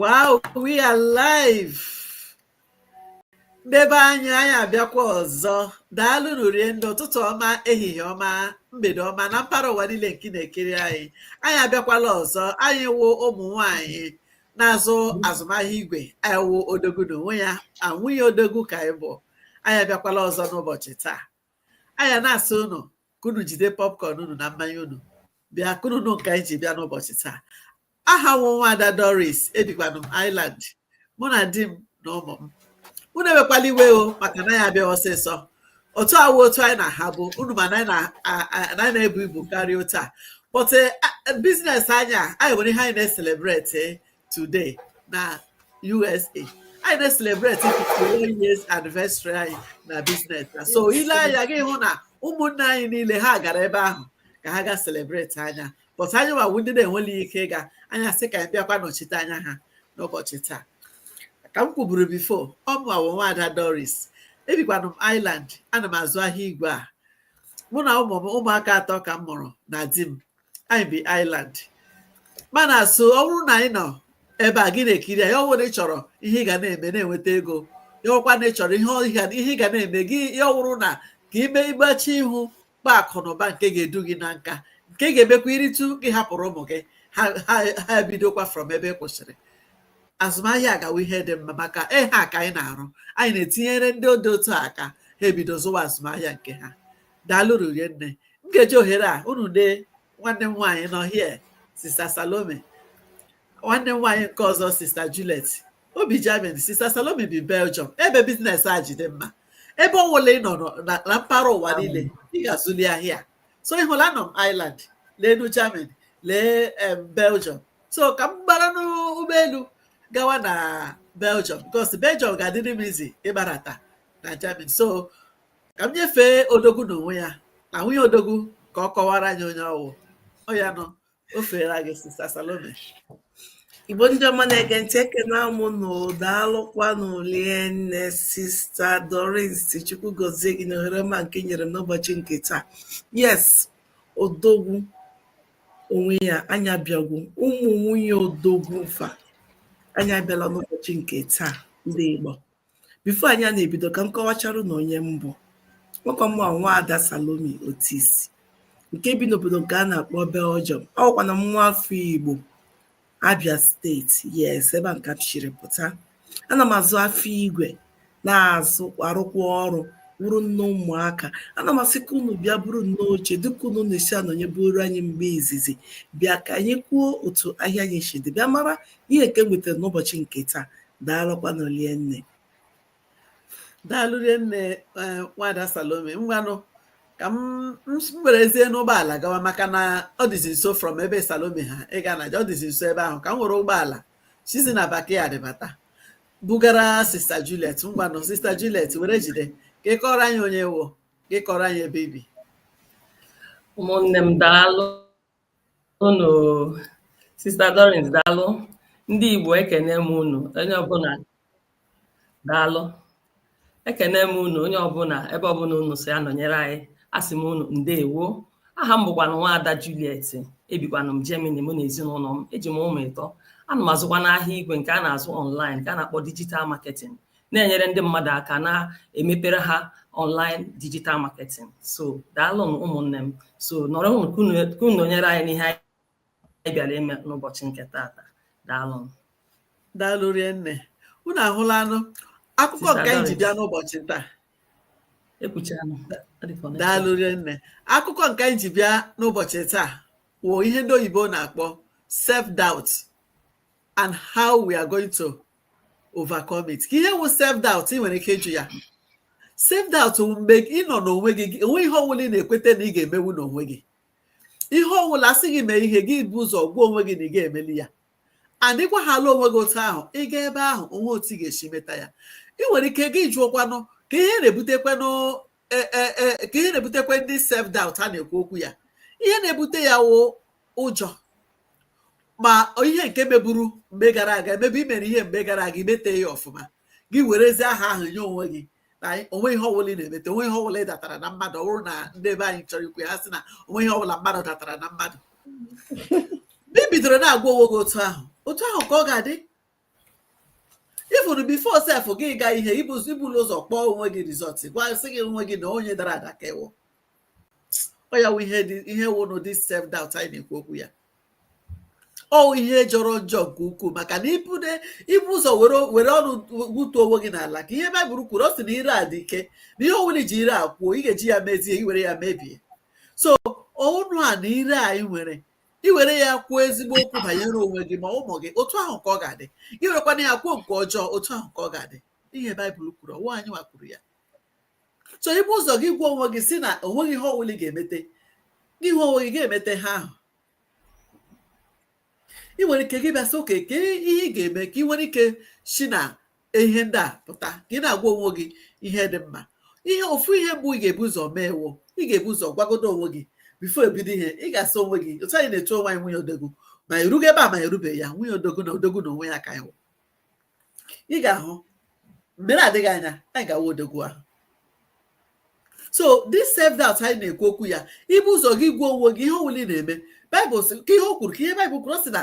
wow we are live nde be anyị anyị abịakwa ọzọ daalụ nụ rie nne ụtụtụ ọma ehihie ọma mgbede ọma na mpaghara ụwa niile nke na-ekiri anyị anyị abịakwala ọzọ anyị wụ ụmụ nwanyị na-azụ azụmahịa igwe anyị wụ odogwu na onwe ya nwunye odogwu ka anyị bụ anyị abịakwala ọzọ n'ụbọchị taa anyị na-asị unu ka unu jide popcorn unu na mmanya unu bịa ka unu nụ nke anyị ji bịa n'ụbọchị taa aha m wụ nwaada Doris ebikwanụ m Ireland mụ na di m na ụmụ m unu ewekwala iwe o maka na anyị abịa ọsịsọ otu a awụ otu anyị na-ahabu unu ma na anyị na-ebu ibu karịa otu a but eh, eh, biznes anyị a anyị nwere ihe anyị na-eselebreti eh, today na USA anyị na-eselebreti 51 years anniversary anyị na biznes so i lee anya gị hụ na ụmụnne anyị niile ha gara ebe ahụ ka ha ga selebreti anya but anyị nwa wụ ndị na-enweli ike ịga anyị sị ka anyị bịakwa nọchite anya ha n'ụbọchị taa ka m kwuburu bifo ọ mụwa wụ nwaada doris ebikwanụ m ireland ana m azụ ahịa igwe a mụ na ụmụ m ụmụaka atọ ka m mụrụ na di m anyị bi ireland mana so ọ bụrụ na ị nọ ebe a gị na-ekiri ya ọ wụrụ ị chọrọ ihe ị ga na-eme na-enweta ego ya ọkwa na ị chọrọ ihe ị ga na-eme gị ya ọ wụrụ na ka ime ịgbachi ihu kpa akụ na ụba nke ga-edu gị na nka nke ga-emekwa i ritu gị hapụrụ ụmụ gị ha ebidokwa from ebe ị kwụsịrị azụmahịa agawa ihe dị mma maka ihe a ka anyị na-arụ anyị na-etinyere ndị dị otu a aka ha ebido zụwa azụmahịa nke ha daalụ nụ rie nne m ga-eji ohere a unu lee nwanne m nwaanyị nọ here sista salome nwanne m nwaanyị nke ọzọ sista juliet o bi germany sista salome bi belgium ebe biznes a ji dị mma ebe ọ wụla ị nọ na na mpaghara ụwa niile ị ga-azụli ahịa a. so ị hụla anọ m ireland leenụ germany lee em, belgium so ka m gbara n'ụgbọelu gawa na belgium bikos belgium ga-adịrị m easy ịgbarata na germany so ka m nyefee odogwu n'onwe ya na nwunye odogwu ka ọ kọwara anyị onye ọ wụ oya now o feela gị sista Salome igbo ndị ọma na-ege ntị ekenee m unu daalụkwanụ rie nne sista Doris Chukwu gozie gị na ohere ọma nke i nyere m n'ụbọchị nke taa yes odogwu onwe ya anyị abịagwo ụmụ nwunye odogwu fa anyị abịala n'ụbọchị nke taa ndị Igbo before anyị ana-ebido ka m kọwachara na onye m bụ awụkwa m nwa ada salome otisi nke bi n'obodo nke a na-akpọ belgium awụkwanụ m nwa afọ igbo abia steeti yes ebe ahụ ka m siri pụta ana m azụ afịa igwe na-azụ arụkwa ọrụ wụrụ nne ụmụaka ana m asị ka unu bịa buru nnọọ oche dịka unu na-esi anọnyeburu anyị mgbe izizi bịa ka anyị kwuo otu ahịa anyị si dị bịa mara ihe nke wetara n'ụbọchị nke taa daalụkwanụ rinne daalụ rinne eh, nwada salome ngwanụ ka m m s- m werezienụ ụgbọala gawa maka na ọ dịzi nso from ebe salome ha ịga na ọ dịzi nso ebe ahụ ka m were ụgbọala sizi na backyard bata bugara sista juliet ngwanụ sista juliet were jide ka ị kọrọ anyị onye ị wụ ka ị kọrọ anyị ebe i bi ụmụnne m daalụ unu sista Doris daalụ ndị Igbo ekene m unu onye ọbụla daalụ ekene m unu onye ọbụla ebe ọbụla unu si anọnyere anyị asị m unu ndewo aha m bụkwanụ nwaada Juliet ebikwanụ m Germany mụ na ezinụlọ m eji m ụmụ ịtọ ana m azụkwanụ ahịa igwe nke a na-azụ online nke a na-akpọ digital marketing na-enyere ndị mmadụ aka na-emepere ha online digital marketing so daalụnụ ụmụnne m so nọrọnụ ka unu- ka unu nọnyere anyị n'ihe anyị bịara ime n'ụbọchị nke tata daalụnụ daalụ rienne unu ahụlanụ akụkọ Sister nke anyị ji Doris. bịa n'ụbọchị taa ekwuchara m Ọ dị ka ọ na-eche. daalụ rienne akụkọ nke anyị ji bịa n'ụbọchị taa wụ ihe ndị oyibo na-akpọ self doubt and how we are going to overcome it ka ihe wụ self doubt ị nwere ike ịjụ ya self doubt wụ mgbe ị nọ n'onwe gị o nwe ihe ọwụla ị na-ekweta na ị ga-emewu n'onwe gị ihe ọwụla a sị gị mee ihe gị ebu ụzọ gwa onwe gị na ị ga-emeli ya and ị gwahaala onwe gị otu ahụ ị gaa ebe ahụ o nwe otu ị ga-esi meta ya ị nwere ike gị jụọkwanụ ka ihe na-ebutekwanụ e, e, e, ka ihe na-ebutekwanụ the self doubt a na-ekwu okwu ya ihe na-ebute ya wụ ụjọ ma ihe nke meburu mgbe gara aga maybe i mere ihe mgbe gara aga i meta ya ọfụma gị werezie aha ahụ nye onwe gị na o nwe ihe ọbụla ị na-emeta o nwe ihe ọbụla ị datara na mmadụ ọ bụrụ na ndị ebe anyị chọrọ ikwu ha sị na o nwe ihe ọbụla mmadụ datara na mmadụ mgbe i bidoro na-agwa onwe gị otu ahụ otu ahụ ka ọ ga-adị ị furu before sef gị ga ihe i bulu ụzọ kpọọ onwe gị result gwa sị gị onwe gị na onye dara ada ka ị wụ ọ ya wụ ihe ihe wụnụ the self doubt anyị na-ekwu okwu ya ọ ihe jọrọ njọ nke ukwuu maka na ibude ibu ụzọ were ọnụ gbutuo onwe gị n'ala ka ihe baịbụl kwuru ọ sị na ire a dị ike na ihe ọwụla i ji ire a kwuo ị ga-eji ya mezie i were ya mebie so ọnụ a na ire anyị nwere i were ya kwuo ezigbo okwu banyere onwe gị ma ụmụ gị otu ahụ ka ọ ga-adị i werekwana ya kwuo nke ọjọọ otu ahụ ka ọ ga-adị ihe baịbụl kwuru ọ wụ anyị nwa kwuru ya so i bu ụzọ gị gwa onwe gị sị na onweghị ihe ọwụla ị ga-emete gị hụ onwe gị ga-emete ihe ahụ ị nwere ike gị bịa sị okay kee ihe ị ga-eme ka ị nwere ike si na ihe ndị a pụta ka ị na-agwa onwe gị ihe dị mma ihe ofu ihe mbụ ị ga-ebu ụzọ mee wụ ị ga-ebu ụzọ gwagodo onwe gị before ebido ihe ị ga-asị onwe gị otu anyị na-etu onwe anyị nwunye odogwu ma erugo ebe a ma erubeghị ya nwunye odogwu na odogwu na onwe ya ka ị wụ ị ga-ahụ mgbe na-adịghị anya anyị ga-awụ odogwu ahụ so this self doubt anyị na-ekwu okwu ya i bu ụzọ gị gwa onwe gị ihe ọbụla ị na-eme baịbụl sị ka ihe o kwuru ka ihe baịbụl kwuru ọ sị na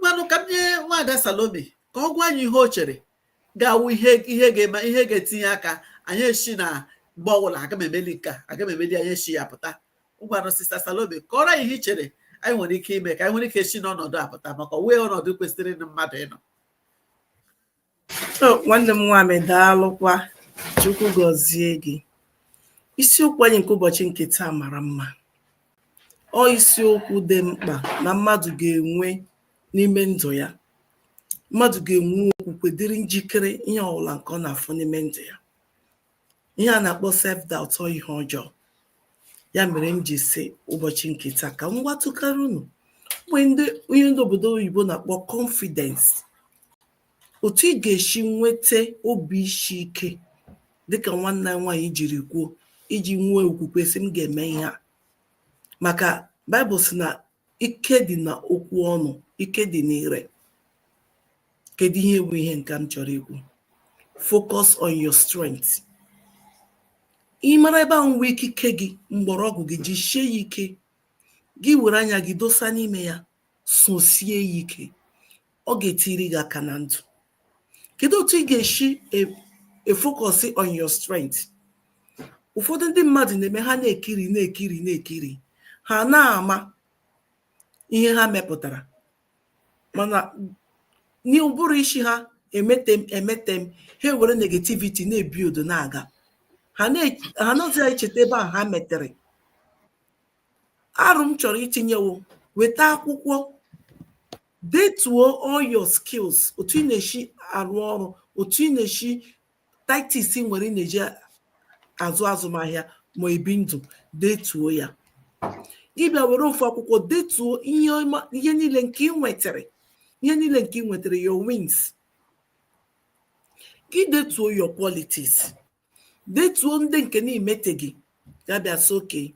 ngwanụ ka m nye nwaada Salome ka ọ gwa anyị ihe o chere ga-awụ ihe ihe ga-etinye aka anyị esi na mgbe ọbụla aga m emeli nke a aga m emeli anyị esi ya pụta ngwanụ sista Salome kọrọ anyị ihe i chere anyị nwere ike ime ka anyị nwere ike esi n'ọnọdụ a pụta maka ọ wụghị ọnọdụ kwesịrị na mmadụ ịnọ nwanne m nwaanyị daalụkwa chukwu gọzie gị isiokwu anyị nke ụbọchị nke taa mara mma ọ isiokwu dị mkpa na mmadụ ga-enwe n'ime ndụ ya mmadụ ga-enwe okwukwe dịrị njikere ihe ọbụla nke ọ na-afụ n'ime ndụ ya ihe a na-akpọ self doubt ọ ihe ọjọọ ya mere m ji sị ụbọchị nke taa ka m gwatụkara unu ihe ndị obodo oyibo na-akpọ confidence Otu ị ga-esi nweta obi isi ike dịka nwanne anyị nwaanyị jiri kwuo iji nwee okwukwe sị m ga-eme ihe a maka Baịbụl sị na ike dị na okwu ọnụ ike dị n'ire kedu ihe bụ ihe nke m chọrọ ikwu focus on your strength ị mara ebe ahụ nwe ikike gị mgbọrọgwụ gị jisie ya ike gị were anya gị dosa n'ime ya sosie ya ike ọ ga-etiri gị aka na ndụ kedu otu ị ga-esi efocus on your strength ụfọdụ ndị mmadụ na-eme ha na-ekiri na-ekiri na-ekiri ha na-ama ihe ha mepụtara mana n'ụbụrụ isi ha emete m emete m ha ewere negativity na-ebi ndụ na-aga ha nọzi ya echeta ebe ahụ ha metere aro m chọrọ itinye wụ weta akwụkwọ detuo all your skills otu ị na-esi arụ ọrụ otu ị na-esi tactics ị nwere ị na-eji azụ azụmahịa ma ebi ndụ detuo ya gị bịa were ofu akwụkwọ detuo ihe niile nke ị nwetara ihe niile nke ị nwetara your wins gị detuo your qualities detuo ndị nke na-emeteghị ya bịa sị okay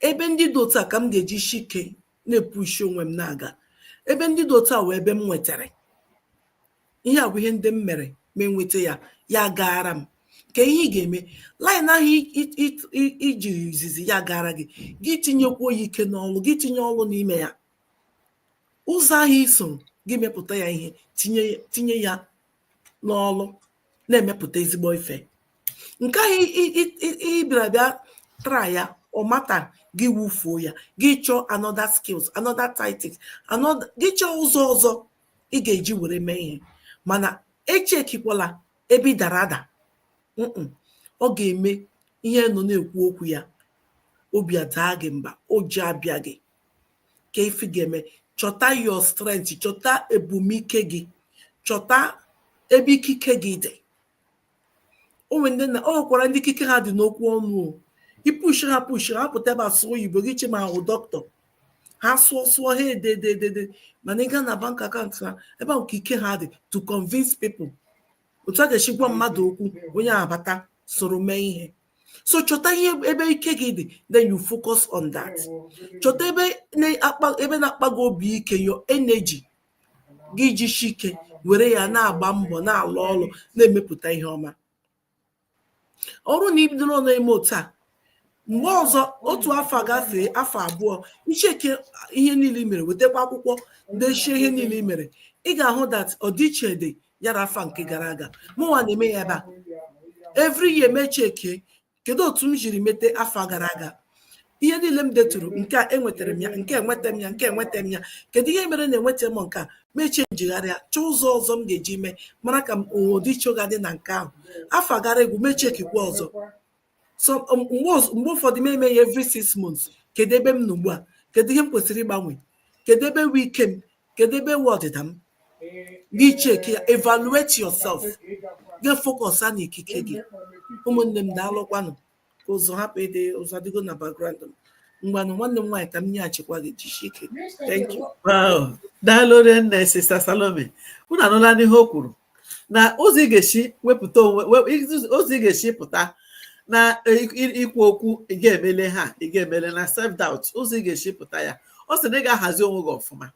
ebe ndị dị otu a ka m ga-ejishi ike na-epushi onwe m na-aga ebe ndị dị otu a wụ ebe m nwetara ihe a bụ ihe ndị m mere m enweta ya ya gaara m ka ihe ị ga-eme line ahụ i ji izizi ya gaara gị gị tinyekwuo ya ike n'ọlụ gị tinye ọlụ n'ime ya ụzọ ahụ i so gị mepụta ya ihe tinye ya n'ọlụ na-emepụta ezigbo ife nke ahụ ị bịara bịa try ya ọ mata gị wufuo ya gị chọọ another skills another tactics gị chọọ ụzọ ọzọ ị ga-eji were mee ihe mana echekikwala ebe ị dara ada ọ ga-eme ihe a nọ na-ekwu okwu ya obi adaa gị mba ụjọ abịa gị ka ife ị ga-eme chọta your strength chọta ebe wụ ike gị chọta ebe ikike gị dị o nwekwara ndị ikike ha dị n'okwu ọnụ i pushi ha pushi ha pụta ebe a sụọ oyibo gị chee ma ha wụ dọkịta ha sụọ sụọ ha edededede mana ị gaa na bank account ha ebe ahụ ka ike ha dị to convince people otu a ga-esi gwa mmadụ okwu onye abata soro mee ihe so chọta ihe ebe ike gị dị then you focus on that chọta ebe na-akpa gị obi ike your energy gị jishi ike were ya na-agba mbọ na-alụ ọrụ na-emepụta ihe ọma ọ bụrụ na i bidoro na-eme otu a mgbe ọzọ otu afọ gafee afọ abụọ i cheke ihe niile i mere wetakwa akwụkwọ dechie ihe niile i mere ị ga-ahụ that ọdịiche dị ya na afọ nke gara aga mụnwa na-eme ya ebe a every year m echeke kedu otu m jiri mete afọ gara aga ihe niile m deturu nke a enwetara m ya nke enweta m ya nke enweta m ya kedu ihe mere na enweta m nke a m echee njigharịa chọọ ụzọ ọzọ m ga-eji mee mara ka ọdịiche ga-adị na nke ahụ afọ gara agwụ m echekikwa ọzọ so um, mgbe ụfọdụ m eme ya every six months kedu ebe m nọ ugbu a kedu ihe m kwesịrị ịgbanwe kedu ebe wụ ike m kedu ebe wụ ọdịda m gị cheki ya evaluate yourself gị focus na ikike gị ụmụnne m daalụkwanụ ka ụzụ hapụ ịdị ụzụ adịgo na background m ngwanụ nwanne m nwaanyị ka m nyeghachikwa gị jishi ike thank you daalụ nne sister salome unu anụlanụ ihe o kwuru na ụzọ ị ga-esi wepụta onwe we- iz- ụzọ ị ga-esi pụta na i- i- ikwu okwu ị ga-emele ha ị ga-emele na self doubt ụzọ ị ga-esi pụta ya ọ sị na ị ga-ahazi onwe gị ọfụma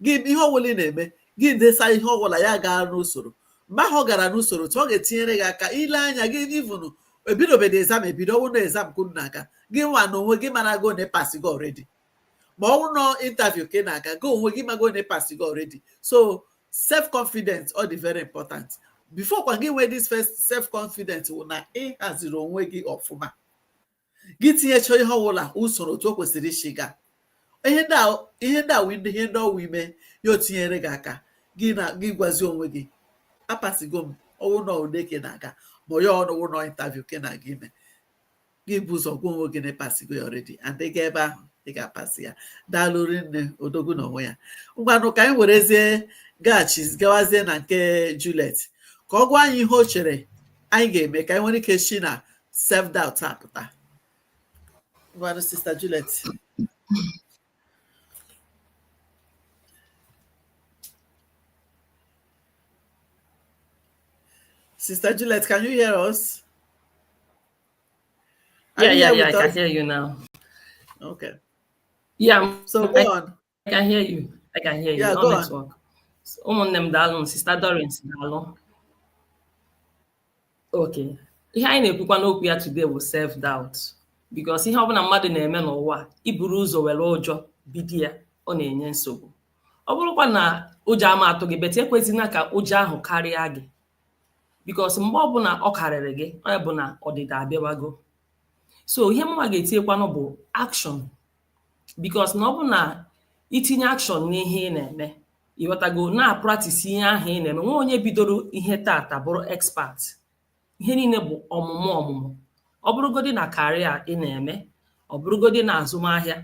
gị ihe ọbụla ị na-eme gị desa ihe ọbụla ya gaa n'usoro mgbe ahụ ọ gara n'usoro tụ ọ ga-etinyere gị aka ile anya gị even e bidobeghị exam ebido ọ wụ na exam kwuru na-aga gịnwa na onwe gị marago na ị pasigo already ma ọ bụrụ na interview ka ị na-aga gị onwe gị mago na ịpasigo already so self confidence ọ dị very important before kwa gị nwee this first self confidence wụ na ị haziri onwe gị ọfụma gị tinyecha ihe ọbụla usoro otu o kwesịrị isi gaa ihe ndị a wụ ihe ndị ọwụ ime ya o tinyere gị aka gị gwazi onwe gị apasigo m ọwụ na ule ka ị na-aga ma ya wụrụ na interview ka ị na-aga ime gị bu ụzọ gwa onwe gị na ịpasigo ya already and ị gaa ebe ahụ ị ga-apasị ya daalụ rinne odogwu na onwe ya ngwanụ ka anyị werezie gaghachi gawazie na nke Juliet ka ọ gwa anyị ihe o chere anyị ga-eme ka anyị nwere ike si na self doubt apụta ngwanụ sista Juliet Sister Juliet, can you hear us? Yeah, yeah, yeah. I can hear you now. Okay. Yeah. So go on. I, I can hear you. I can hear you. Yeah, go network. on. ụmụnne m daalụnụ sista Dorins daalụ okay ihe anyị na-ekwukwa n'okwu ya today bụ self doubt because ihe ọbụla mmadụ na-eme n'ụwa a iburu ụzọ were ụjọ bido ya ọ na-enye nsogbu ọ bụrọkwa na ụjọ ama atụ gị but ekwezina ka ụjọ ahụ karịa gị because mgbe ọbụla ọ karịrị gị ọ bụ na ọdịda abịawago so ihe mụnwa ga-etinyekwanụ bụ action because na ọ bụ na itinye action n'ihe ị na-eme ịghọtago na-apractice ihe ahụ ị na-eme onweghị onye bidoro ihe taata bụrụ expert ihe niile bụ ọmụmụ ọmụmụ ọ bụrụgodị na career ị na-eme ọ bụrụgodị na azụmahịa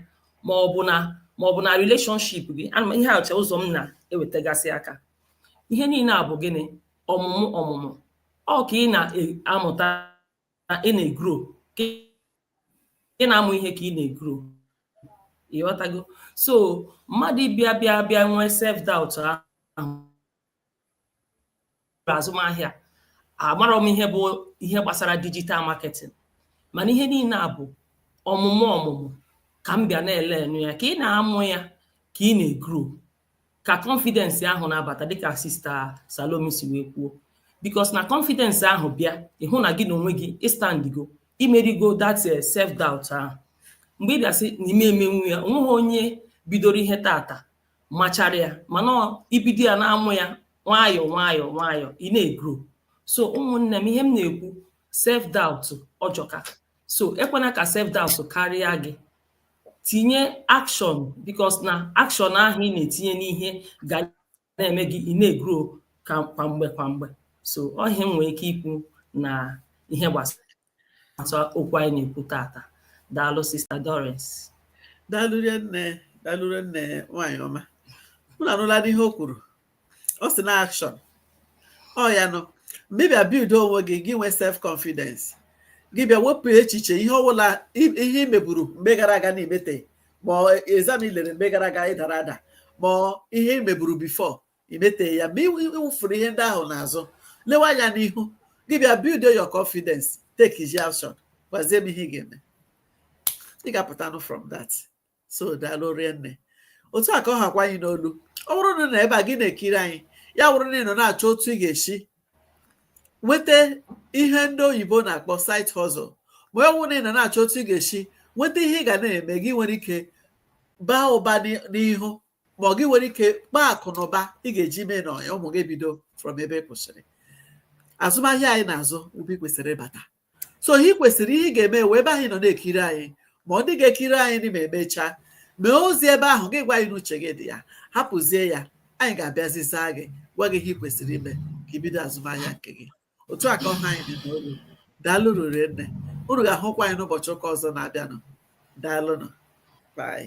ma ọ bụ na ma ọ bụ na relationship gị ana m ihe acha ụzọ m na-ewetagasị aka ihe niile a bụ gịnị ọmụmụ ọmụmụ ọ ka ị na-amụta ị na-egro ị na-amụ ihe ka ị na-egro ịghọtago so mmadụ bịa bịa bịa nwee self doubt ahụ azụmahịa amarọ m ihe bụ ihe gbasara digital marketing mana ihe niile a bụ ọmụmụ ọmụmụ ka m bịa na-elearnụ ya ka ị na-amụ ya ka ị na-egro ka confidence ahụ na-abata dịka sista Salome si wee kwuo because na confidence ahụ bịa ịhụ na gị na onwe gị ịstandigo imerigo that eh, self doubt ahụ mgbe ị bịa sị na ị ma emenwu ya onweghị onye bidoro ihe taata machara ya mana ibido ya na-amụ ya nwayọọ nwayọọ nwayọọ ị na-egro so ụmụnne m ihe m na-ekwu self doubt ọ jọka so ekwena ka self doubt karịa gị tinye action because na action ahụ ị na-etinye n'ihe ga na-eme gị ị na-egro kwa mgbe kwa mgbe so ọ ihe m nwere ike ikwu na ihe gbasara okwu anyị na-ekwu tata daalụ sister Doris daalụ nne daalụ nne nwaanyị ọma unu anụlanụ ihe o kwuru ọ sị na action ọ ya nụ mgbe ị bịa build onwe gị gị nwee self confidence gị bịa wepụ echiche ihe ọbụla ihe i meburu mgbe gara aga na i mete ma exam i lere mgbe gara aga ị dara ada ma ihe i meburu before i mete ya ma ị wụfuru ihe ndị ahụ n'azụ lewe anya n'ihu gị bịa build your confidence takezie action gwazie m ihe ga-eme ị ga-apụtanụ from that so daalụ rinne otu a ka ọ hakwa anyị n'olu ọ bụrụ na ị nọ ebe a gị na-ekiri anyị ya bụrụ na ị nọ na-achọ otu ị ga-esi nweta ihe ndị oyibo na-akpọ side hustle ma ọ bụrụ na ị nọ na-achọ otu ị ga-esi nweta ihe ị ga na-eme gị nwere ike baa ụba n'ihu ma ọ gị nwere ike kpaa akụ na ụba ị ga-eji mee na ụmụ gị bido from ebe ị kwụsịrị azụmahịa anyị na-azụ ebe ị kwesịrị ịbata so ihe ị kwesịrị ihe ị ga-eme wụ ebe ahụ ị nọ na-ekiri anyị ma ọ ndị ga-ekiri anyị ma e mechaa mee ozi ebe ahụ gị gwa anyị n'uche gị dị ya hapụzie ya anyị ga-abịazi zaa gị gwa gị ihe ị kwesịrị ime ka i bido azụmahịa nke gị otu a ka ọ ha anyị n'olu daalụ rinne unu ga-ahụkwa anyị n'ụbọchị ụka ọzọ na-abịanụ daalụnụ bye